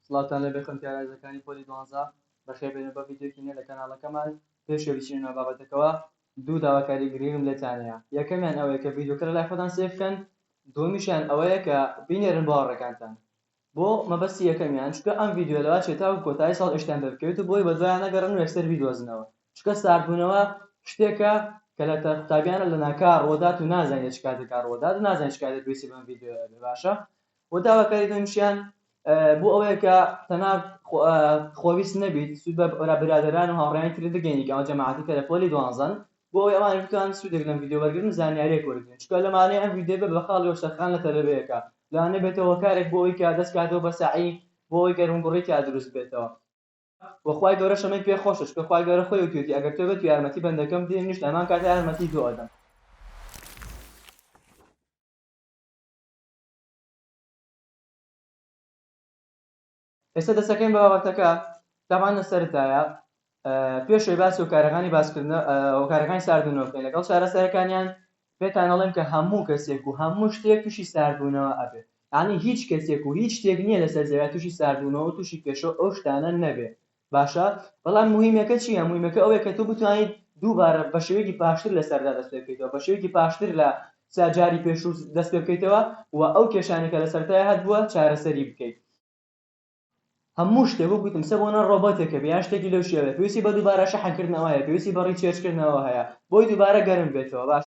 سڵاوتان لێبێ خەلکی ئارایزەکانی پۆلی دوانزە بەخێر بێن و بەم ڤیدیۆکی نوێ لە کەناڵەکەمان پێش ئەوەی بچینە ناو بابەتەکەوە دوو داواکاری گرینگم لێتان هەیە یەکەمیان ئەوەیە کە ڤیدیۆکە لەلای خۆتان سەیر بکەن دووەمیشیان ئەوەیە کە بینێرن بۆ هاوڕێکانتان بۆ مەبەستی یەکەمیان چونکە ئەم ڤیدیۆ لەوە چێت تاکو کۆتایی ساڵ ئێشکتان پێ بکەوێت و بۆی بەدوایان نەگەڕێن و یەکسەر بیدۆزنەوە چونکە ساردبوونەوە شتێکە کە لە تە قوتابیانە لەناکاو ڕوودات و نازانیت چ کاتێکا ڕوودات و نازانیت چ کاتێک پێویستی بەم ڤیدیۆیە ئەبێ باشە وە داواکاری دووەمیشیان بۆ ئەوەیە کە تەنانەت خۆویست نەبیت سوود بە برادەران و هاوڕێیانی ترت بگەیەنی کە ئەوە جەماعەتی کەرە پۆلی دوانزەن بۆ ئەوەی ئەوانیش بتوانن سوودێک لەم ڤیدیۆ وەرگرن و زانیارییەک وەربگرن چونکە لەمانەی ئەم ڤیدیۆ بە بە خاڵی وەرچەرخان لە تەلەبەیەکا لە نەبێتە هۆکارێک بۆ ئەوەی کە دەست کاتەوە بە سەعی بۆ ئەوەی گەرموگوڕی تیا دروست بێتەوە وە خوای گەورە شەمەی پێ خۆشە چونکە خوای گەورە خۆی وتویەتی ئەگەر تۆ بێت و یارمەتی بەندەکەم بدەی منیش لە هەمان کاتا یارمەتی تۆ ئەدەم. ئێستا دەسەکەین بە بابەتەکە دامان لە سەرتایە پێشوی باس و کارەکانی باسکردن ئەو کارەکانی ساردونەوەکەین لەگەڵ شارە سەرەکانیان پێتانەڵێن کە هەموو کەسێک و هەموو شتێک تووشی ساردبوونەوە ئەبێت ینی هیچ کەسێک و هیچ شتێک نییە لەسەر زەویا تووشی ساردبوونەوە تووشی کێشە ئەو شتانە نەبێت باشە بەڵام موهیمەکە چیە موهیمەکە ئەوەیە کە تۆ بتوانیت دووبارە بە شێوەیەکی باشتر لە سەردا دەست پێ بکەیتەوە بە شێوەیەکی باشتر لە سا جاری پێشوو دەست پێ بکەیتەوە و ئەو کێشانەی کە لە سەرەتای هەتبووە چارەسەری بکەیت هەموو شتێک وەک گوتم سە بۆنە ڕۆبۆتێکە بێ یان شتێکی لەو شێوەیە پێویستی بە دووبارە شەحنکردنەوە هەیە پێویستی بە ڕیچێرجکردنەوە هەیە بۆی دووبارە گەرم بێتەوە باش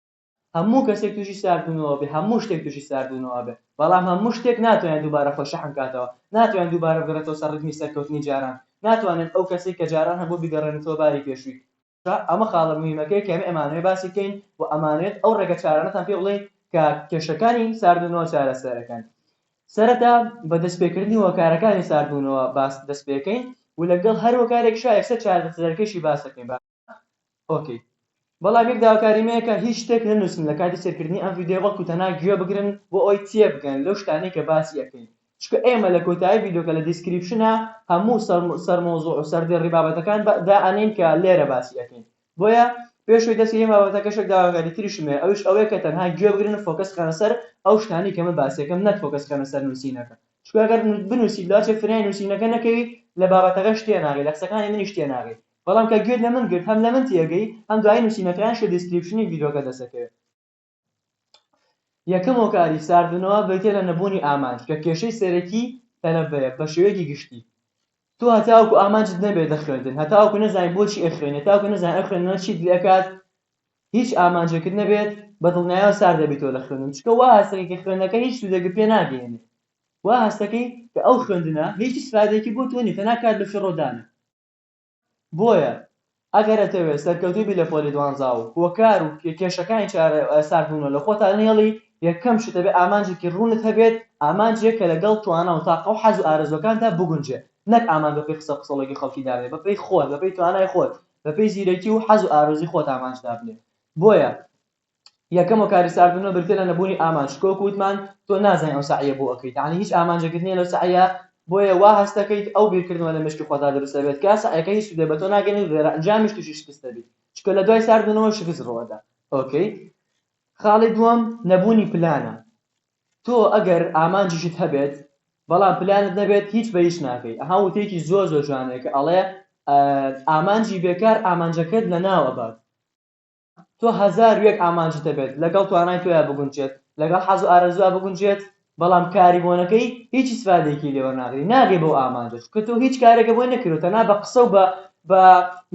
هەموو کەسێک تووشی ساردوونەوە بێ هەموو شتێک تووشی ساردوونەوە ئەبێ بەڵام هەموو شتێک ناتوانێت دووبارە خۆی شەحن کاتەوە ناتوانێت دووبارە بگەڕێتەوە سەر ڕیتمی سەرکەوتنی جاران ناتوانێت ئەو کەسەی کە جاران هەبوو بیگەڕێنێتەوە باری پێشووی ئەمە خاڵە موهیمەکەیە کە ئێمە ئەمانەوێت باسی بکەین و ئەمانەوێت ئەو ڕێگە چارانەتان پێ بڵێین کە کێشەکانی ساردوونەوە چارەسەر ئەکەن سەرەتا بە دەست پێ کردنی هۆکارەکانی ساردوونەوە باس دەست پێ کەین و لەگەڵ هەر هۆکارێکیشا یەکسەر چارەسەرەکەیشی باس ئەکەین ئۆکەی بەڵام یەک داواکاری مەیەکە هیچ شتێک نەنووسن لە کاتی سێرکردنی ئەم ڤیدیۆ بەڵکو تەنها گوێ بگرن بۆ ئەوەی تێبگەن لەو شتانەی کە باسی ئەکەین چونکە ئێمە لە کۆتایی ڤیدیۆکە لە دیسکریپشنا هەموو سەر مەوزوع و سەردێڕی بابەتەکان دائەنێین کە لێرە باسی ئەکەین بۆیە پێشوەی دەستی ئێمە بابەتە کەشێک داواکاری تریشمێ ئەوش ئەوەیە کە تەنها گوێ بگرن و فۆکەس خەنە سەر ئەو شتانی کە من باسیەکەم نەک فۆکەس خەنە سەر نووسینەکە چونکە گەر بنووسی لاچێ فرای نووسینەکە نەکەوی لە بابەتەکەش تێناگەی لە قسەکانی منیش تێناگەی بەڵام کە گوێت لە من گرت هەم لە من تێگەی هەم دوایی نوسینەکان شە دیسکریپشنی ڤیدۆکە دەسەکەوێت یەکەم هۆکاری ساردبنەوە بریتیە لە نەبوونی ئامانج کە کێشەی سەرەکی تەلەبەیە بە شێوەیەکی گشتی تۆ هەتاوەکو ئامانجت نەبێت لە خوێندن هەتاوەکو نەزانیت بۆچی ئەخوێنێت تاوەکو نەزانیت ئەم خوێندنە چیت لێ ئەکات هیچ ئامانجێکت نەبێت بە دڵنیایەوە سار دەبیتەوە لە خوێندن چکە وا هەستەکەی کە خوێندنەکە هیچ سوودێکت پێ ناگەیەنێت وا هەستەکەی کە ئەو خوێندنە هیچ ئیسفادەیەکی بۆ تۆ نیە تەنها کات لە فیڕۆدانە بۆیە ئەگەر ئەتەوێت سەرکەوتوو بی لە پۆلی دوانزا و هۆکار و کێشەکانی چارە سات بوونەوە لە خۆتا نەهێڵی یەکەم شت ئەبێت ئامانجێکی ڕوونت هەبێت ئامانجێک کە لەگەڵ توانا و تاقە و حەز و ئارەزووەکانتا بگونجێت نەک ئامانج بەپێی قسە و قسەڵۆکی خەڵکی دابنێت بەپێی خۆت بەپێی توانای خۆت بەپێی زیرەکی و حەز و ئارەزووی خۆت ئامانج دابنێ بۆیە یەکەم و کارستاربوونەوە بریتیە لە نەبوونی ئامانج چکە وەکو وتمان تۆ نازانین ئەو سەعیە بۆ ئەکەیت یعنی هیچ ئامانجێکت نییە لەو سەعیە بۆیە وا هەست دەکەیت ئەو بیرکردنەوە لە مێشکی خۆتا دروست دەبێت کە سەعیەکە هیچ سوودێ بە تۆ ناگەێن و دێرەئەنجامیش تووشی شکست دەبیت چکە لە دوای ساردبوونەوە شکست ڕوەدا ئۆکەی خاڵی دووەم نەبوونی پلانە تۆ ئەگەر ئامانجیشت هەبێت بەڵام پلانت نەبێت هیچ بە هیچ ناکەیت ئەها وتێکی زۆر زۆر جوانەیە کە ئەڵێ ئامانجی بێکار ئامانجەکەت لە ناوەبات تۆ هەزار و یەک ئامانجت هەبێت لەگەڵ توانای تۆیا بگونجێت، لەگەڵ حەز و ئارەزووا بگونجێت، بەڵام کاری بۆ نەکەی هیچ ئیسفادەیەکی لێ وەرناگری ناگەی بەو ئامانجە چونکە تۆ هیچ کارێکە بۆی نەکردوە تەنها بە قسە و بە بە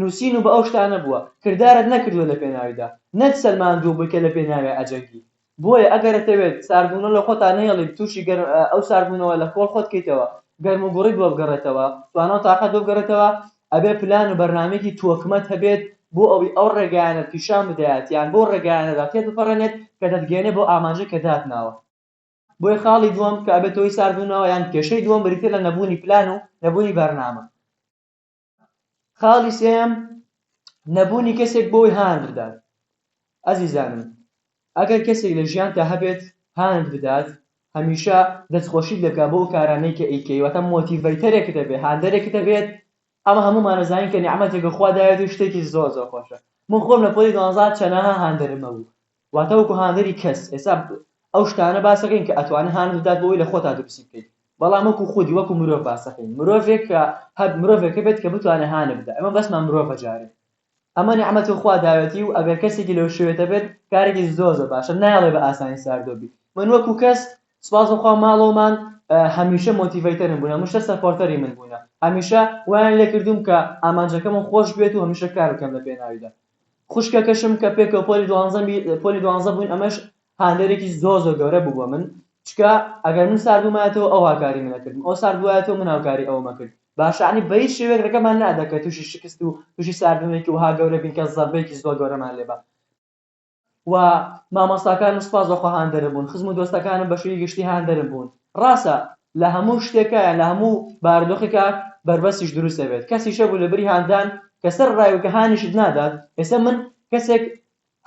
نوسین و بە ئەو شتانە بووە کردارت نەکردوە لە پێناویدا نەت سەلماندووە بووی کە لە پێناویا ئەجەنگی بۆیە ئەگەر ئەتەوێت ساردبوونەوە لە خۆتا نەهێڵیت تووشی گەر ئەو ساردبوونەوە لە کۆڵ خۆت کەیتەوە گەرم و گوڕیت بۆ بگەڕێتەوە توانا و تاقەت بۆ بگەڕێتەوە ئەبێت پلان و بەرنامەیەکی تۆکمەت هەبێت بۆ ئەوەی ئەو ڕێگایانەت پیشان بدەیات یان بەو ڕێگایانەدا تێت بپەڕێنێت کە دەتگەیەنێت بەو ئامانجەی کە داتناوە. بۆیە خاڵی دووەم کە ئەبێت هۆی ساردبوونەوە یان کێشەی دووەم بریتیە لە نەبوونی پلان و نەبوونی بەرنامە. خاڵی سێیەم نەبوونی کەسێک بۆ ئەوەی هانت بدات ئەزیزانم ئەگەر کەسێک لە ژیانتا هەبێت هانت بدات هەمیشە دەستخۆشیت لێ بکا بۆ ئەو کارانەی کە ئەیکەی واتە مۆتیڤەیتەرێکت دەبێت هاندەرێکت دەبێت ئەمە هەموومان دەزانین کە نیعمەتێکە خوا داوێت و شتێکی زۆر زۆر خۆشە من خۆم لە پۆلی دوانزە چەناها هاندەرم هەبوو واتا وەکو هاندەری کەس ئێستا ئەو شتانە باسەکەین کە ئەتوانێ هانت بدات بۆ ئەوەی لە خۆتا دروستی بکەیت بەڵام وەکو خودی وەکو مرۆڤ باسەکەین مرۆڤێک کە هەب مرۆڤێک هەبێت کە بتوانێ هانت بدا ئەمە بەسمان مرۆڤە جارێ ئەمە نیعمەتی خوا داوێتی و ئەگەر کەسێکی لەو شوێتە بێت کارێکی زۆر زۆر باشە نایڵێ بە ئاسانی ساردۆ بی من وەکو کەس سپاس بەخوا ماڵەوەمان هەمیشە مۆتیڤەیتەرم بوون هەمیشە سەپۆرتەری من بوونە هەمیشە وایان لێکردووم کە ئامانجەکەمم خۆش بێت و هەمیشە کار بکەم لە پێناویدا خوشکەکەشم کە پێکەوە پۆلی دوانزەم پۆلی دوانزە بووین ئەمەش هاندەرێکی زۆر زۆر گەورە بوو بۆ من چکە ئەگەر من سارد بوومایەتەوە ئەو هاکاری منە کردم ئەو سارد بوایەتەوە من هاوکاری ئەومە کرد باشانی بە هیچ شێوەیەک ڕێگەمان نەدا کە تووشی شکست و تووشی ساردبوونێکی وەها گەورە بین کە زەربەیەکی زۆر گەورەمان لێبا و مامۆستاکانم سوپاس بەخوا هاندەرم بوون خزم و دۆستەکانم بەشوی گشتی هاندەرم بوون ڕاستە لەهەموو شتێکا یان لەهەموو بارودۆخێکا بەربەستیش دروست دەبێت کەسیش هەبوو لەبری هاندان کە سەر ڕای و کە هانیشت نادات ئێستا من کەسێک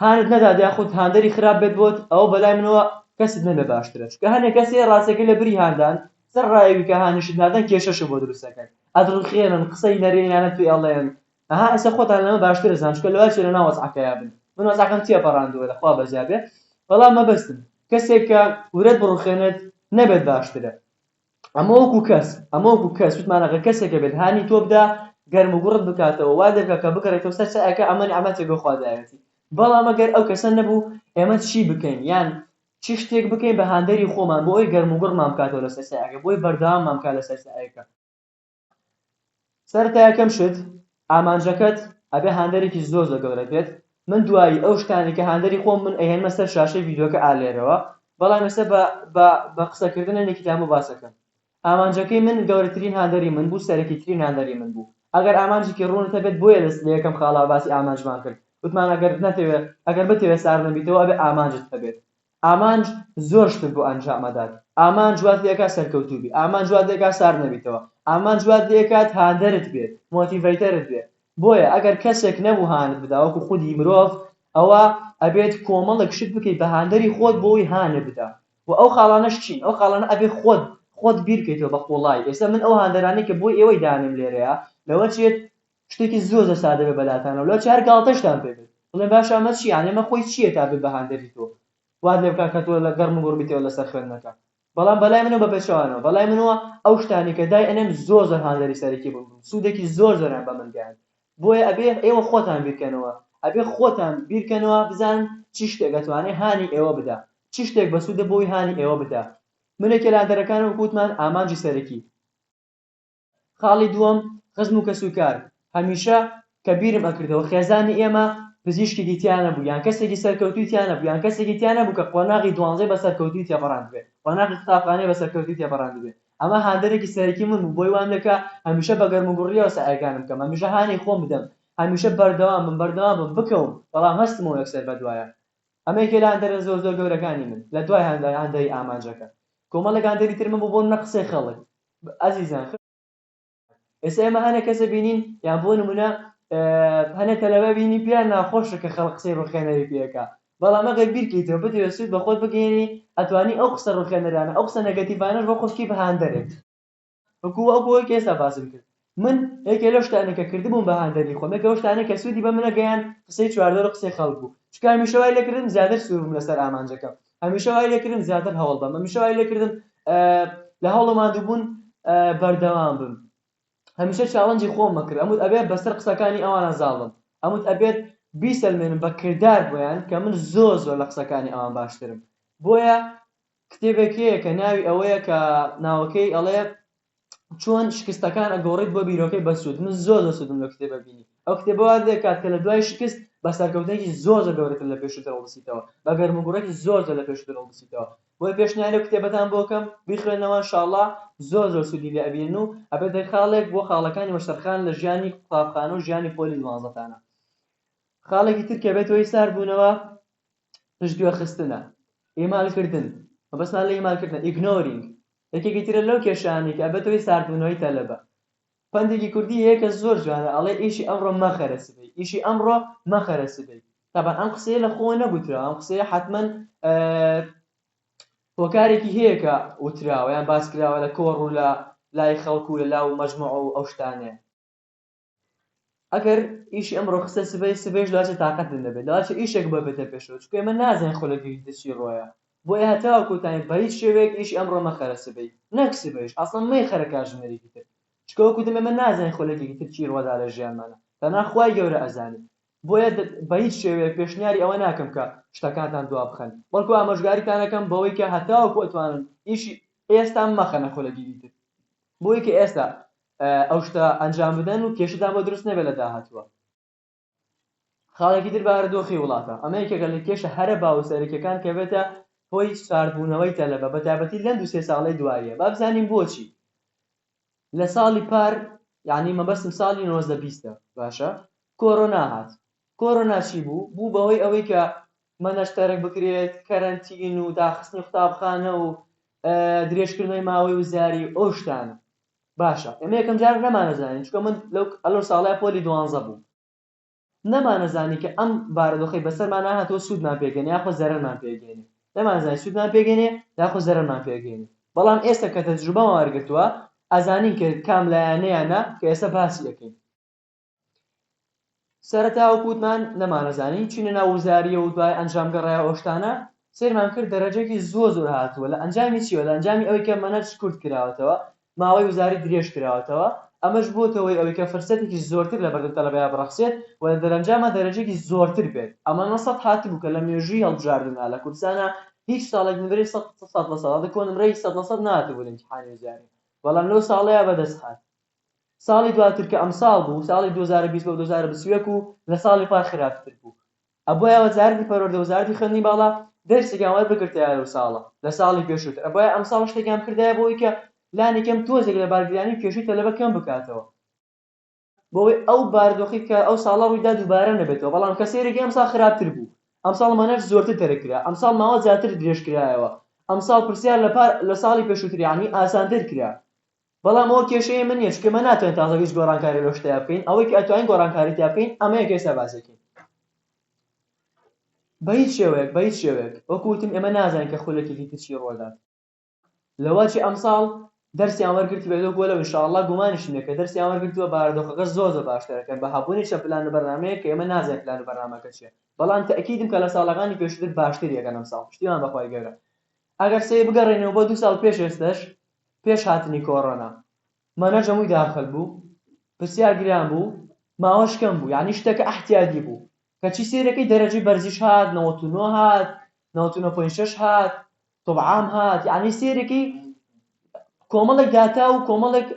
هانت نەدات یاخود هاندەری خراپ بێت بۆت ئەوە بەلای منەوە کەست نەبێ باشترە چونکە هەنێ کەسێ ڕاستەکەی لەبری هاندان سەر ڕایەوی کە هانیشت نادەن کێشەشە بۆ دروست دەکەن ئەدڕوخێنن قسەی نەرێنیانە پێ ئەڵێن ئەها ئیستا خۆتان لەمە باشتر ئەزان چونکە لەوای چێ لەناو وەزعەکەیا بن من وەزعەکەم تیا پەڕاندووە لەخوا بەزیا بێ بەڵام مەبەستم کەسێک کە ورەت بڕوخێنێت نەبێت باشترە ئەمە وەکو کەس ئەمە وەکو کەس وتمانەکە کەسێکە بێت هانی تۆ بدا گەرم و گوڕت بکاتەوە وا دەرکە کە بگەڕێتەوە سەر چایەکە ئەمە نیعمەتێک بۆ خوا داوێتی بەڵام ئەگەر ئەو کەسە نەبوو ئێمە چی بکەین یان چی شتێک بکەین بە هاندەری خۆمان بۆ ئەوی گەرم و گوڕمان بکاتەوە لەسەر چایەکە بۆی بەردەواممان بکات لەسەر چایەکە سەرەتا یەکەم شت ئامانجەکەت ئەبێ هاندەرێکی زۆر زۆر گەورە بێت من دوایی ئەو شتانی کە هاندەری خۆم من ئەهێنمە سەر شاشەی ڤیدیۆکە ئالێرەوە بەڵام ئێستا بە قسەکردن هەندێکی تامە باسەکەم ئامانجەکەی من گەورەترین هاندەری من بوو سەرەکیترین هاندەری من بوو ئەگەر ئامانجێکی ڕوونت هەبێت بۆیە لە یەکەم خاڵا باسی ئامانجمان کرد وتمان ئەگەر نەتەوێت ئەگەر بتەوێت ساردنەبیتەوە ئەبێ ئامانجت هەبێت ئامانج زۆر شتت بۆ ئەنجام ئەدات ئامانج وات لێئەکات سەرکەوتوو بی ئامانج وات لێئەکات سارد نەبیتەوە ئامانج وات لێئەکات هاندەرت بێت مۆتیڤەیتەرت بێت بۆیە ئەگەر کەسێک نەبوو هانت بدا وەکو خودی مرۆڤ ئەوا ئەبێت کۆمەڵک شت بکەیت بە هاندەری خۆت بۆ ئەوەی هانت بدا وە ئەو خاڵانەش چین ئەو خاڵانە ئەبێت خۆت خۆت بیرکەیتەوە بە قوڵایی ئێستا من ئەو هاندەرانەی کە بۆ ئێوەی دانێم لێرەیا لەوە چێت شتێکی زۆر زۆر سادە بێ بەلاتانەوە لەو چار گاڵتەشتان پێ بێت بڵێن باشە ئەمە چیە یانی ئەمە خۆی چیە تا بێ بە هاندەری تۆ وات لێ بکات کە تۆ لە گەڕم و گوڕ بیتەوە لەسەر خوێندنەکە بەڵام بەلای منەوە بە پێچەوانەوە بەلای منەوە ئەو شتانەی کە دای ئەنێم زۆر زۆر هاندەری سەرەکی بوون بوون سوودێکی زۆر زۆریان بە من گەیاند بۆیە ئەبێ ئێوە خۆتان بیرکەنەوە ئەبێ خۆتان بیرکەنەوە بزانن چی شتێک ئەتوانێ هانی ئێوە بدا چی شتێک بەسوودە بۆی هانی ئێوە بدا من یەکێ لە هاندەرەکانم وەکو وتمان ئامانجی سەرەکی خاڵی دووەم، خزم و کەسوکار، هەمیشە کە بیرم ئەکردەوە خێزانی ئێمە پزیشکێکی تیا نەبوو یان کەسێکی سەرکەوتووی تیا نەبوو یان کەسێکی تیا نەبوو کە قۆناغی دوانزەی بە سەرکەوتووی تێپەڕاندبێ قۆناغی قوتابخانەی بە سەرکەوتووی تێپەڕاندبێ ئەمە هاندەرێکی سەرەکی من بوو بۆی وام لێکا هەمیشە بە گەرموگوڕییەوە سەعیەکانم بکەم هەمیشە هانی خۆم بدەم هەمیشە بەردەوام بم بەردەوام بم بکەوم بەڵام هەستمەوە یەکسەر بەدوایە ئەمە یەکێ لە هاندەرە زۆر زۆر گەورەکانی من لە دوای هاندەری ئامانجەکە کۆمەڵێک هاندەری ترم بوو بۆ منە قسەی خەڵک ئەزیزان خوێنەر بەڕێزان ئێستا ئێمە هەنێ کەسە بینین یان بۆ نمونە هەنێ تەلەبە بینی پێیان ناخۆشە کە خەڵک قسەی ڕوخێنەری پێکا بەڵام ئەگەر بیرکەیتەوە بتەوێت سود بەخۆت بگەیەنی ئەتوانی ئەو قسە ڕوخێنەرانە ئەو قسە نەگەتیڤانەش بۆ خۆشکی بهاندەرێک وەکو وەکو ئەوەی کە ئێستا باسم کرد من یەکێ لەو شتانەی کە کردبووم بە هاندەری خۆم یەکێ لەو شتانەی کە سوودی بە منە گەیاند قسەی چواردەورو قسەی خەڵک بوو چونکە هەمیشە وای لێکردم زیاتر سوور بم لەسەر ئامانجەکەم هەمیشە وای لێکردم زیاتر هەوڵ بەم هەمیشە وای لێکردم لە هەوڵ و ماندووبوون بەردەوام بم هەمیشە چاڵنجی خۆم ئەکرد ئەموت ئەبێت بەسەر قسەکانی ئەوانە زاڵ بم ئەموت ئەبێت بیسەلمێنم بە کردار بۆیان کە من زۆر زۆر لە قسەکانی ئەوان باشترم بۆیە کتێبێک هەیە کە ناوی ئەوەیە کە ناوەکەی ئەڵێ چۆن شکستەکان ئەگۆڕیت بۆ بیرۆکەی بەسوود من زۆر زۆر سوودم لەو کتێبە بینی ئەو کتێبە وات لێکات کە لە دوای شکست بە سەرکەوتنێکی زۆر زۆر گەورەتر لە پێشووتر هەڵبسیتەوە بە گەرموگوڕێکی زۆر زۆر لە پێشووتر هەڵبسیتەوە بۆیە پێشنیاری ئەو کتێبەتان بۆ ئەکەم بیخوێنەوە ان شاء اللە زۆر زۆر سوودی لێ ئەبینن و ئەبێتە خاڵێک بۆ خاڵەکانی وەشترخان لە ژیانی قوتابخانە و ژیانی پۆلی دوانزەتانە خاڵێکی تر کە بێت هۆی ساردبوونەوە پشتگوێخستنە ئیمالکردن مەبەستمان لە ئیمالکردنە ئیگنۆرینگ یەکێکی ترە لەو کێشانەی کە ئەبێتە هۆی ساردبوونەوەی تەلەبە. پەندێکی کوردی هەیە کە زۆر جوانە ئەڵێ ئیشی ئەمڕۆ مەخەرە سبەی، ئیشی ئەمڕۆ مەخەرە سبەی. تەبعەن ئەم قسەیە لە خۆوە نەگوتراوە، ئەم قسەیە حەتمەن هۆکارێکی هەیە کە وتراوە یان باس کراوە لە کۆڕ و لە لای خەڵک و لە لاو مەجموعە و ئەو شتانەیە. ئەگەر ئیشی ئەمڕۆ خستە سبەی سبەیش لەواتە تاقەتت نەبێت لەواتە ئیشێک بۆ بێتە پێشەوە چونکە ئێمە نازانین خۆ لە گەیشتە چی ڕۆیە بۆیە هەتاوە کۆتایی بە هیچ شێوەیەک ئیشی ئەمڕۆ مەخەرە سبەی نەک سبەیش ئەسڵەن مەیخەرە کاژمێرێکی تر چونکە وەکو وتم ئێمە نازانین خۆ لە گەیشتە تر چی ڕۆدا لە ژیانمانا تەنها خوای گەورە ئەزانێ بۆیە بە هیچ شێوەیەک پێشنیاری ئەوە ناکەم کە شتەکانتان دوا بخەن بەڵکو ئامۆژگاریتان ئەکەم بەوەی کە هەتاوەکو ئەتوانن ئیشی ئێستا مەخەنە خۆ لە گەیشتە تر بۆیە کە ئێستا ئەو شتە ئەنجام بدەن و کێشەتان بۆ دروست نەبێت لە داهاتووە خاڵێکی تر بارودۆخی وڵاتە ئەمە یەکێکە لە کێشە هەرە باو و سەرەکیەکان کە بێتە هۆی ساردبوونەوەی تەلەبە بە تایبەتی لەم دوو سێ ساڵەی دواییە با بزانین بۆچی لە ساڵی پار یعنی مەبەستم ساڵی نۆزدە بیستە باشە کۆرۆنا هات کۆرۆنا چی بوو بوو بەوەی ئەوەی کە مەنەش تەرک بکرێت کەرەنتین و داخستنی قوتابخانە و درێژکردنەوەی ماوەی وزاری ئەو شتانە باشە ئێمە یەکەم جار نەمانەزانی چونکە من لەو ئەلۆ ساڵای پۆلی دوانزە بووم نەمانەزانی کە ئەم بارودۆخەی بەسەرمانە هاتووە سوودمان پێگەێنێ یاخۆ زەرەرمان پێگەێنێ نەمانزانی سوودمان پێگەێنێ یاخۆ زەرەرمان پێگەێنێ بەڵام ئێستا کە تەجروبەمان وەرگرتووە ئەزانین کە کام لایەنەیانە کە ئێستا باسی دەکەین سەرەتا وەکو وتمان نەمانەزانی چوینە ناو وزاریە و دوای ئەنجام گەڕایە ئەو شتانە سەیرمان کرد دەرەجەکی زۆر زۆر هاتووە لە ئەنجامی چیوە لە ئەنجامی ئەوەی کە مەنهەج کورت کراوەتەوە ماوەی وزاری درێژ کراوەتەوە ئەمەش بووەتە هۆی ئەوەی کە فرسەتێکی زۆرتر لە بەردەم تەلەبەیا بڕەخسێت و لە دەرەنجاما دەرەجەکی زۆرتر بێت ئەمە نە سەد هاتبوو کە لە مێژووی هەڵبژاردندا لە کوردستانا هیچ ساڵێک نمرەی سەد سەد لە سەد هەڵی کۆ نمرەی سەد لە سەد نەهاتبوو لە ئیمتیحانی وزاری بەڵام لەو ساڵەیا بەدەست هات ساڵی دواتر کە ئەمساڵ بوو ساڵی دوو هەزار و بیست بۆ دوو هەزار و بیست و یەک و لە ساڵی پار خراپتر بوو ئەبوایە وەزارەتی پەروەردە وەزارەتی خوێندنی باڵا دەرسێکیان وەربگرتایە لەو ساڵە لە ساڵی پێشووتر ئەبوایە ئەمساڵ شتێکیان بکردایە بۆ ئەوەی کە لانی کەم تۆزێک لە بارگرانی و کێشەی تەلەبە کەم بکاتەوە بۆ ئەوەی ئەو بارودۆخەی کە ئەو ساڵە ڕووی دا دووبارە نەبێتەوە بەڵام کە سەیرێکی ئەمساڵ خراپتر بوو ئەمساڵ مانەر زۆرتر تەرک کرا ئەمساڵ ماوە زیاتر درێژ کرایەوە ئەمساڵ پرسیار لە پار لە ساڵی پێشووتر یانی ئاسانتر کرا بەڵام ئەوە کێشەی من نیە چونکە ئێمە ناتوانین تازە هیچ گۆڕانکاری لەو شتەیا بکەین ئەوەی کە ئەتوانین گۆڕانکاری تیا بکەین ئەمە یەکەی سەربازێکین بە هیچ شێوەیەک بە هیچ شێوەیەک وەکو وتم ئێمە نازانین کە خولەکێکی تر چی ڕۆدات لەوە چی ئەمساڵ دەرسیان وەرگرتبێت لەو گۆلە ان شاء اللە گومانیشم نیە کە دەرسیان وەرگرتووە بارودۆخەکە زۆر زۆر باشتر ئەکەن بە هەبوونی چەند پلان و بەرنامەیەک کە ئێمە نازانین پلان و بەرنامەکە چیە بەڵام تەئکیدم کە لە ساڵەکانی پێشووتر باشتری ئەکەن ئەمساڵ پشتیوان بەخوای گەورە ئەگەر سەیر بگەڕێینەوە بۆ دوو ساڵ پێش ئێستەش پێش هاتنی کۆڕۆنا مەنە جەموی داخل بوو پرسیار گران بوو ماوەش کەم بوو یانی شتەکە ئەحتیادی بوو کەچی سەیرەکەی دەرەجەی بەرزیش هات نەوەت و نۆ هات نەوەت و نۆ پۆین شەش هات تۆب عام هات یانی سەیرەکەی کۆمەڵێک داتا و کۆمەڵێک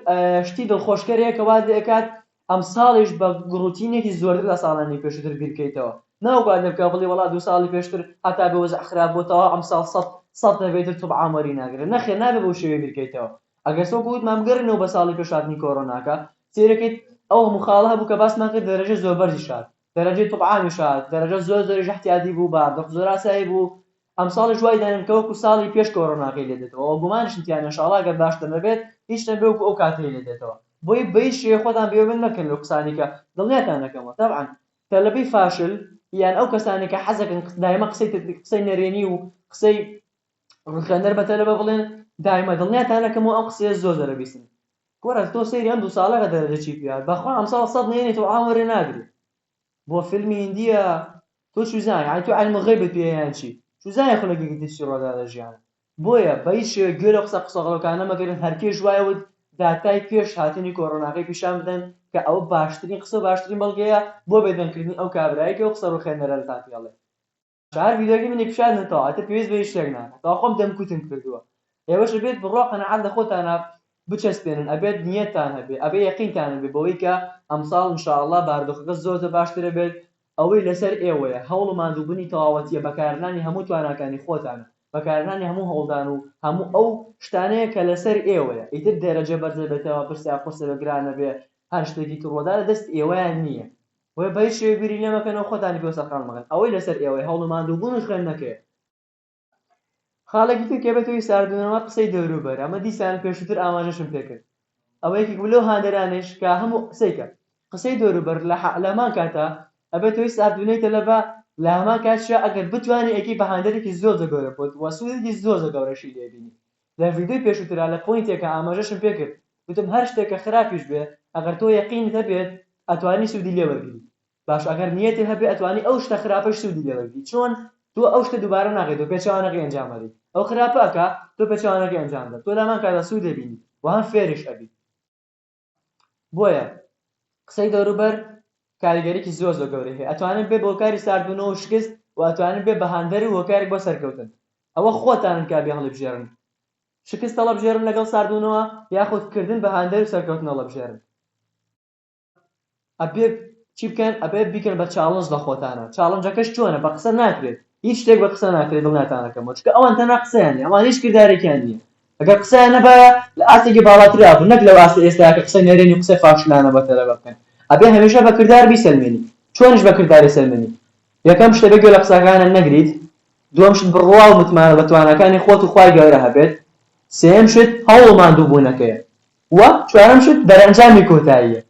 شتی دڵخۆشکەرەیە کە واز لێ ئەکات ئەمساڵیش بە گڕوتینێکی زۆرتر لە ساڵانی پێشووتر بیرکەیتەوە ناو بات لێ بکە بڵێی وەڵا دوو ساڵی پێشتر هەتا بێ وەزع خراپ بووە تەواو ئەمساڵ سەد سەد دەبێ ئیتر توبعام وەری ناگرێ نەخێر نابێ بەو شێوەیە بیرکەیتەوە ئەگەرس وەکو وتمان بگەرێینەوە بە ساڵی پێش هاتنی کۆرۆناکە سەیرەکەیت ئەو هەموو خاڵە هەبوو کە باسمان کرد دەرەجە زۆر بەرزیش هات دەرەجەی طبعامیش هات دەرەجە زۆر زۆریش احتیادی بوو بە دڵ زۆر ئاسایی بوو ئەمساڵیش وای دەنێن کە وەکو ساڵی پێش کۆرۆناکەی لێ دێتەوە ئەوە گومانیشم تیا نیە انشاءاللە گەر باشتر نەبێت هیچ نەبێ وەکو ئەو کاتەی لێ دێتەوە بۆیە بە هیچ شێوەیەک خۆتان بێ ئومێد مەکەن لەو قسانەی کە دڵنیاتان دەکەمەوە تەبعا تەلەبەی فاشل یان ئەو کەسانەی کە حەز دەکەن دایمە قسەی قسەی نەرێنی و قسەی ڕوخێنەر بە تەلەبە بڵێن دایمە دڵنیاتان دەکەمەوە ئەم قسەیە زۆر زۆرە بیسن کوڕە تۆ سەیری ئەم دوو ساڵە کە دەرە دەچی پیاو بەخوا ئەمساڵ سەد نەیەنێ تۆ عام وەرێ ناگری بۆ فیلمی هندیە تۆ چوزانی یعنی تۆ علم غیبت پێ یان چی چوزانی خولەکێکی تر چی ڕۆدا لە ژیانە بۆیە بە هیچ شێوەیەک گوێ لەو قسە قسەغەڵەکانە مەگرن هەر کێش وای وت داتای پێش هاتنی کۆرۆناکەی پیشان بدەن کە ئەوە باشترین قسە و باشترین بەڵگەیە بۆ بێدەنگکردنی ئەو کابرایەی کە ئەو قسە ڕووخێنەرە لەتان پێڵێ چوار ڤیدیۆکەی منی پیشان دەتەوە ئەتر پێویست بە هیچ شتێک ناکەن تەواو خۆم دەمکوتم کردووە ئێوەش ئەبێت بڕوا قەناعەت لە خۆتانا بچەسپێنن ئەبێت نیەتتان هەبێ ئەبێ یەقینتان هەبێ بەوەی کە ئەمساڵ ان شاء اللە باردۆخەکە زۆر زۆر باشتر ئەبێت ئەوەی لەسەر ئێوەیە هەوڵ و ماندووبونی تەواوەتیە بەکارهێنانی هەموو تواناکانی خۆتانە بەکارهێنانی هەموو هەوڵدان و هەموو ئەو شتانەیە کە لەسەر ئێوەیە ئیتر دەرەجە بەرزەبێتەوە پرسە قورسە بێ گرانەبێ هەر شتێکی تڕوە دا لە دەست ئێوەیان نیە بۆیە بە هیچ شێوەیەک بیری لێمەکەن و خۆتانی پێوە سەرقاڵ مەکەن، ئەوەی لەسەر ئێوەیە هەوڵ و ماندووبوون و خوێندنەکەیە. خاڵێکی تر کە بێتەوە هی ساردبوونەوە قسەی دەوروبەرە، ئەمە دیسان پێشووتر ئاماژەشم پێکرد، ئەوە یەکێک بوو لەو هاندەرانەیش کە هەموو قسەیکە قسەی دەوروبەر لە هەمان کاتە ئەبێتە هۆی ساردبوونەوەی تەلەبە، لە هەمان کاتیشا ئەگەر بتوانی ئەیکەی بە هاندەرێکی زۆرزۆر گەورە بۆت و سوودێکی زۆرزۆر گەورەشی لێبینی، لە ڤیدیۆی پێشوترا لە پۆینتێکا ئاماژەشم پێ کرد گوتم هەر شتێک کە خراپیش بێ ئەگەر تۆ یەقینت هەبێت ئەتوانی سودی لێ وەرگری باش ئەگەر نیەتێ هەبێ ئەتوانی ئەو شتە خراپەش سودی لێ وەرگری چۆن تۆ ئەو شتە دوبارە ناکەیت و پێچەوانەکەی ئەنجام ئەدەیت ئەو خراپە ئەکا تۆ پێچەوانەکەی ئەنجام دە تۆ لەمان کادا سود ئەبینیت و هەم فێریش ئەبیت بۆیە قسەی دەوروبەر کاریگەریی زۆر زۆر گەورەی هەیە ئەتوانن بێ بۆکاری ساردبونەوە و شکست و ئەتوانن بێ بەهاندەر و هۆکارێک بۆ سەرکەوتن ئەوە خۆتانن کا بێ هەڵیبژێرن شکست هەڵەبژێرن لەگەڵ ساردبونەوە یاخود کردن بەهاندەر و سەرکەوتن هەڵەبژێرن ئەبێ چی بکەن ئەبێ بیکەن بە چاڵنج لە خۆتانا چاڵنجەکەش چۆنە بە قسە ناکرێت هیچ شتێک بە قسە ناکرێت دڵ ناتانەکەمەوە چکە ئەوان تەنها قسەیان نیە ئەوان هیچ کردارێکیان نییە ئەگەر قسەیان نەبایە لە ئاستێکی باڵاترا بوو نەک لەو ئاستە ئێستا کە قسە نەرێنی و قسەی فاشلانە بە تەلەبە بکەن ئەبێ هەمیشە بە کردار بیسەلمێنی چۆنیش بە کردار ئەسەلمێنی یەکەم شتە بێ گوێ لە قسەکانت نەگریت دووەم شت بڕوا و متمانە بە تواناکانی خۆت و خوای گەورە هەبێت سێیەم شت هەوڵ ماندووبوونەکەیە و چوارەم شت دەرئەنجامی کۆتاییە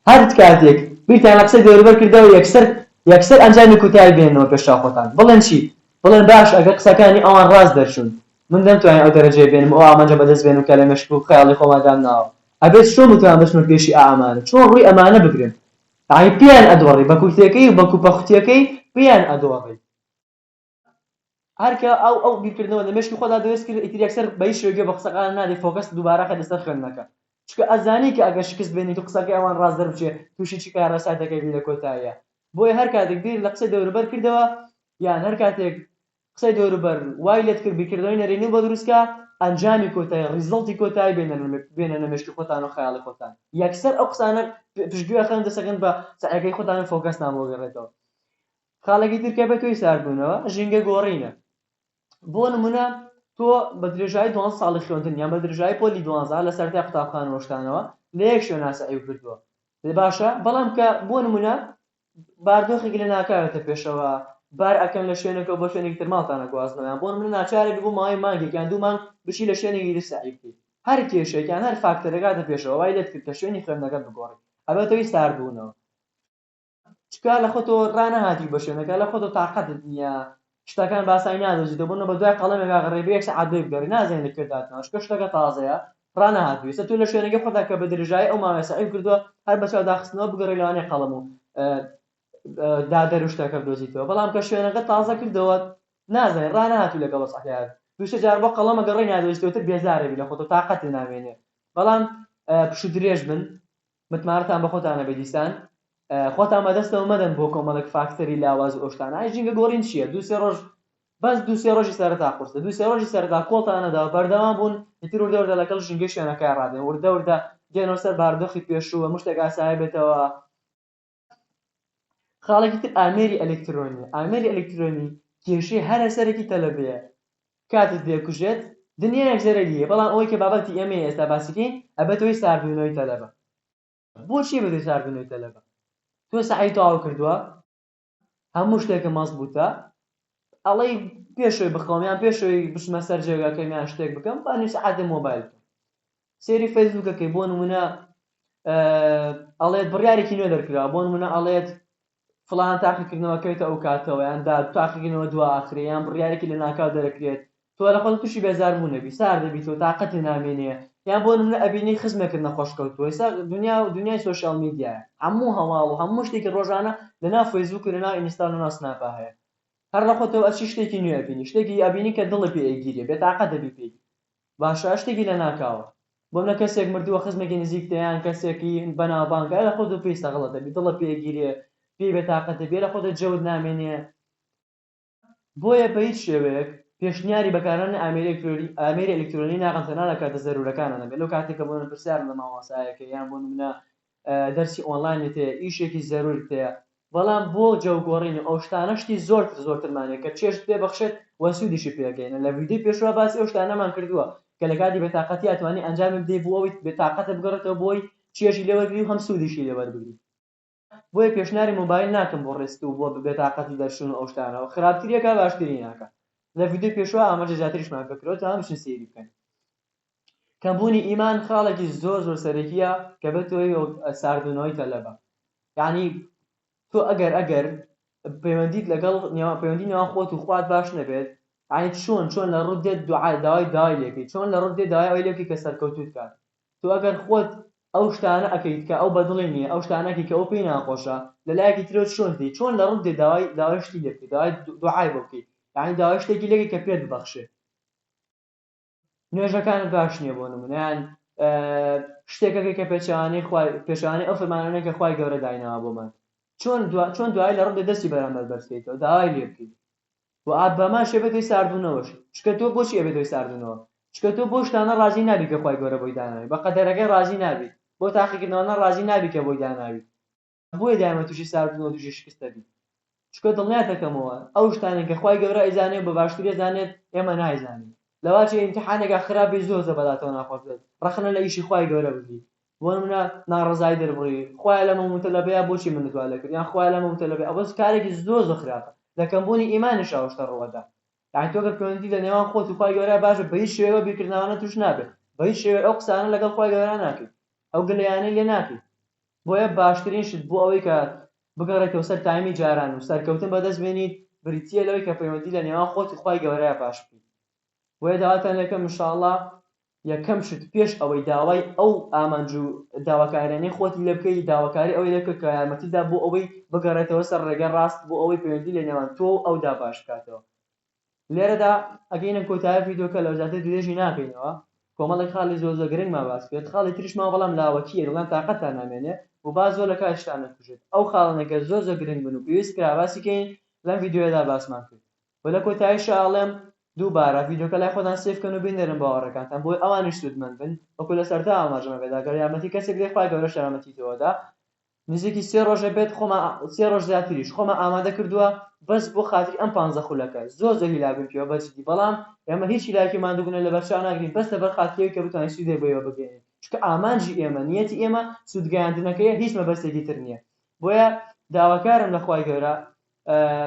هەرد کاتێک بیرتان لە قسەی دەوروبەر کردەوە یەکسەر یەکسەر ئەنجامی کوتایی بێننەوە پێش چاو خۆتان بڵێن چی بڵێن باشە ئەگەر قسەکانی ئەوان ڕاست دەرچون من نەمتوانی ئەو دەرەجەیە بێنم ئەو ئامانجە بەدەست بێنم کە لە مێشک و خەیاڵی خۆما دامناوە ئەبێت چۆن بتوان بچمە پێشی ئا ئەمانە چۆن ڕوی ئەمانە بگرم یانی پێیان ئەدۆڕی بە کورتێکەی و بە کوپە خوتیەکەی پێیان ئەدۆڕی. هەرکە ئەو ئەو بیرکردنەوە لە مێشکی خۆدا دروست کرد ئیتر یەکسەر بە هیچ شێوەیەک گوێ بە قسەکان نادەی فۆکەست دووبارە خەیتە سەر خوێندنەکە چونکە ئەزانی کە ئەگەر شکست بێنیت و قسەکەی ئەوان ڕاست دەربچێ تووشی چ کارەسات دەکەبی لە کۆتاییا بۆیە هەر کاتێک بیر لە قسەی دەوروبەر کردەوە یان هەر کاتێک قسەی دەوروبەر وای لێت کرد بیرکردنەوەی نەرێنی بۆ دروست کە ئەنجامی کۆتایی ڕیزڵتی کۆتایی بێنە بێنە لە مێشکی خۆتان و خەیاڵی خۆتان یەکسەر ئەو قسانە پشتگوێ خەن دەسەکەن بە سەعیەکەی خۆتان و فۆکەستان بۆ گەڕێتەوە خاڵێکی تر کە بەتۆی ساردبوونەوە ژینگە گۆڕینە بۆ نمونە تۆ بە درێژایی دوان ساڵی خوێندن یان بە درێژایی پۆلی دوانزا لە سەرتای قوتابخانەوەشتانەوە لە یەک شوێنا سەعی کردووە لە باشە بەڵام کە بۆ نمونە باردۆخێک لە ناکاوێتە پێشەوە بار ئەکەن لە شوێنەکە بۆ شوێنێکی تر ماڵتانە گوازنەوەیان بۆ نمونە ناچارێک بۆ ماوەی مانگێک یان دوو مانگ بچی لە شوێنێکی تر سەعی بکەیت هەر کێشێک یان هەر فاکتەرەکاتە پێشەوە وای لێت کرد کە شوێنی خوێندنەکەت بگۆڕی ئەبێتەوەی ساردبوونەوە چکار لە خۆتۆ ڕانەهاتی بە شوێنەکە لە خۆتۆ تاقەتت نییە شتەکان باسای نادەزیتە بۆ نە بە دوای قەڵەمێک ئاغڕێ بە یەک سەعات دوێ بگەڕێ نازانێت لە کوێ داتناوە چکە شتەکە تازەیە ڕانەهاتووی سە تۆ لە شوێنەکە خۆتا کە بە درێژایی ئەو ماوەیە سەعی کردووە هەر بە چاو داخستنەوە بگەڕێ لەوانەیە قەڵەم و دادەر و شتەکە بدۆزیتەوە بەڵام کە شوێنەکە تازە کردەوە نازانێت ڕانەهاتوو لەگەڵ وەسعەکەیان دووسێ جار بۆ قەڵەمە گەڕێ نادۆزیتەوە تر بێزارێبی لە خۆتۆ تاقەتی نامێنێ بەڵام پشت درێژ بن متمانەتان بەخۆتان هەبێ دیسان خۆتان بەدەستەوە مەدەن بۆ کۆمەڵێک فاکتەری لاواز و ئەوشتانە ئای ژینگە گۆڕین چییە دوو سێ ڕۆژ بەس دوو سێ ڕۆژی سەرەتا قورسە دوو سێ ڕۆژی سەرەتا کۆڵتانەدا و بەردەوام بوون ئیتر وردە وردە لەگەڵ ژینگەی شوێنەکە ڕادێن وردە وردە دێنەوە سەر باردۆخی پێشوو و مشتێک ئاسایە بێتەوە خاڵێکی تر ئامێری ئەلکترۆنی ئامێری ئەلکترۆنی کێشەی هەرە سەرەکی تەلەبەیە کاتت لێ کوژێت دنیایەک زەرەری هەیە بەڵام ئەوەی کە بابەتی ئێمەی ئێستا باسی کەین ئەبێتە هۆی ساردبوونەوەی تەلەبە بۆچی ئەبێتە هۆی ساردبوونەوەی تەلەبە تۆ سەعی تەواو کردووە هەموو شتێکە مەزبووتە ئەڵێی پێش ئەوەی بخەوم یان پێش ئەوەی بچمە سەر جێگاکەم یان شتێک بکەم با نیو سەعات لە مۆبایل بکەم سێری فەیسبووکەکەی بۆ نمونە ئەڵێت بڕیارێکی نوێ دەرکرا بۆ نمونە ئەڵێت فلان تاقیکردنەوە کەوێتە ئەو کاتەوە یان دا تاقیکردنەوە دوا ئاخرەیان بڕیارێکی لە ناکاو دەرەکرێت تۆ لە خۆت توشی بێزار بوون ئەبی سار دەبیت و تاقەتێ نامێنێ یان بۆ نمونە ئەبینی خزمێکت نەخۆش کەوتووە ئیستا دنیا و دنیای سۆشیال میدیایە هەموو هەواڵ و هەموو شتێکی ڕۆژانە لە ناو فەیسبووک و لە ناو ئینستا و لە ناو سناپا هەیە هەر لە خۆتەوە ئەچی شتێکی نوێ ئەبینی شتێکی ئەبینی کە دڵت پێ ئەیگیرێ بێ تاقەت ئەبی پێی باشە شتێکی لە ناکاوە بۆ نمونە کەسێک مردووە خزمێکی نزیکتە یان کەسێکی بەناوبانگە ئەرە خۆت و پێی سەغڵەت ئەبی دڵت پێ ئەگیرێ پێی بێ تاقەت ئەبی ئەرە خۆت جەوت نامێنێ بۆیە بە هیچ شێوەیەک پێشنیاری بەکارهێنانی ئامێری ئامێری ئەلیکترۆنی ناکەم تەنها لە کاتە زەرورەکانا نەبێت لەو کاتەی کە بۆنمونە پرسیارم لە مامۆستایەک هەیە یان بۆ نمونە دەرسی ئۆنلاینت هەیە ئیشێکی زەرورت هەیە بەڵام بۆ جەوگۆڕین و ئەو شتانە شتی زۆرتر زۆرترمان هەیە کە چێژت پێ بەخشێت و سوودیشی پێگەینە لە ڤیدیۆی پێشوە باسی ئەو شتانەمان کردووە کە لە کاتی بێتاقەتیا توانی ئەنجامی بدەی بۆ ئەوەی بێتاقەتت بگەڕێتەوە بۆی چێژی لێ وەرگری و هەم سوودیشی لێ وەربگری بۆیە پێشناری مۆبایل ناکەم بۆ ڕێسک و بۆ بێتاقەتی دەرچوون و ئەو شتانەوە خراپتریە کا باشتری ناکا لە ڤیدیۆی پێشوە ئاماژە زیاتریشمان پێ کراوە تا بچن سەیری بکەن کەم بوونی ئیمان خاڵێکی زۆر زۆر سەرەکیە کە بێت تۆی ساردونەوەی تەلەبە یعنی تۆ ئەگەر ئەگەر پەیوەندیت لەگەڵ نێوان پەیوەندی نێوان خۆت و خوات باش نەبێت ئاین چۆن چۆن لە ڕوودێت دوعای داوای داوای لێکەی چۆن لە ڕوودێ داوای ئەوی لێکی کە سەرکەوتوت کات تۆ ئەگەر خۆت ئەو شتانە ئەکەیت کە ئەو بەدڵی نیە ئەو شتانە ئەکەی کە ئەو پێی ناخۆشە لە لایەکی ترەوە چۆن دێی چۆن لە ڕوت دێی داوای داوای شتی لێ بکەی داوای دوعای بۆ بکەی یانی داوای شتێکی لێ کەی کە پێت ببەخشێ نوێژەکانت باش نیە بۆ نمونە یان شتێک ئەکەی کە پێچەوانەی خوا پێچەوانەی ئەو فەرمانانەی کە خوای گەورە دایناوە بۆمان چۆن دوا چۆن دوای لە ڕوت دێ دەستی بەرامبەر بەرز کەیتەوە داوای لێ بکەی و ئاباماش ئەبێت هۆی ساردبوونەوەش چونکە تۆ بۆچی ئەبێت هۆی ساردبوونەوە چونکە تۆ بەو شتانە ڕازی نابیت کە خوای گەورە بۆی داناوی بە قەدەرەکەی ڕازی نابیت بەو تاقیکردنەوانە ڕازی نابیت کە بۆی داناوی بۆیە دایمە توشی ساردبوونەوە توشی شکست ئەبیت چونکە دڵنیات ئەکەمەوە ئەو شتانەی کە خوای گەورە ئەیزانێت بە باشتری ئەزانێت ئێمە نایزانین لەوە چی ئیمتیحانێکا خراپ بیت زۆر زۆر بەلاتەوە ناخۆش بێت ڕەخنە لە ئیشی خوای گەورە بگریت بۆ نمونە ناڕەزایی دەربڕی خوایە لەم مەوموتەلەبەیە بۆچی منت وا لێکرد یان خوایە لەم مەوموتەلەبەیە ئەوە کارێکی زۆر زۆر خراپە لە کەمبوونی ئیمانیش ئەو شتە ڕوو ئەدا یانی تۆ گەر پەیوەندی لە نێوان خۆت و خوای گەورە باشە بە هیچ شێوەیەک ئەو بیرکردنەوانە توش نابێت بە هیچ شێوەیەک ئەو قسانە لەگەڵ خوای گەورە ناکەیت ئەو گلەیانەی لێ ناکەیت بۆیە باشترین شت بۆ ئەوەی کە بگەڕێتەوە سەر تایمی جاران و سەرکەوتن بەدەست بێنیت بریتییە لەوەی کە پەیوەندی لە نێوان خۆت و خوای گەورەیا باش بکەیت بۆیە داواتان لێکەم ان شاء اللە یەکەم شت پێش ئەوەی داوای ئەو ئامانج و داواکاریانەی خۆتی لێ بکەی داواکاری ئەوەی لێ بکە کە یارمەتیت دا بۆ ئەوەی بگەڕێتەوە سەر ڕێگای ڕاست بۆ ئەوەی پەیوەندی لە نێوان تۆ و ئەودا باش بکاتەوە لێرەدا ئەگەینە کۆتایی ڤیدیۆکە لەو زیاتر درێژی ناکەینەوە کۆمەڵێک خاڵی زۆر زۆر گرنگمان باس کرد خاڵی تریش ماوە بەڵام لاوەکییە دەڵێن تاقەتتان نامێنێ و با زۆر لە کاتیشتان نەکوژێت ئەو خاڵانە گەر زۆر زۆر گرنگ بن و پێویست کرا باسی کەین لەم ڤیدیۆیەدا باسمان کرد و لە کۆتایشا ئەڵێم دووبارە ڤیدیۆکە لای خۆتان سەیڤ کەن و بینێرن باوەڕەکانتان بۆی ئەوانیش سوودمەند بن وەکو لە سەرتا ئاماژەم پێدا گەر یارمەتی کەسێک دەی خوای گەورەش یارمەتی تۆ ئەدا نزیکی سێ ڕۆژ ئەبێت خۆمان سێ ڕۆژ زیاتریش خۆمان ئامادە کردووە بەس بۆ خاتری ئەم پانزە خولەکە زۆر زۆر هیلاک بووین پێوە بە جدی بەڵام ئێمە هیچ هیلاکی و ماندووبوونە لەبەر چاو ناگرین بەس لەبەر خاتری ئەوی کە بتوانین سوودێ بۆیەوە بگەیەنین چونکە ئامانجی ئێمە نیەتی ئێمە سوود گەیاندنەکەیە هیچ مەبەستێکی تر نیە بۆیە داواکارم لە خوای گەورە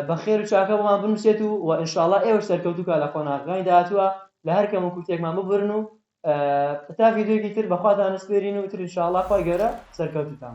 بە خێر و چاکە بۆمان بنووسێت و و ئینشاءاللە ئێوەش سەرکەوتوو کا لە قۆناغەکانی داهاتووە لە هەر کەم و کورتێکمان ببورن و تا ڤیدیۆیەکی تر بەخواتان نسپێرین و تر ئینشاءاللە خوای گەورە سەرکەوتووتان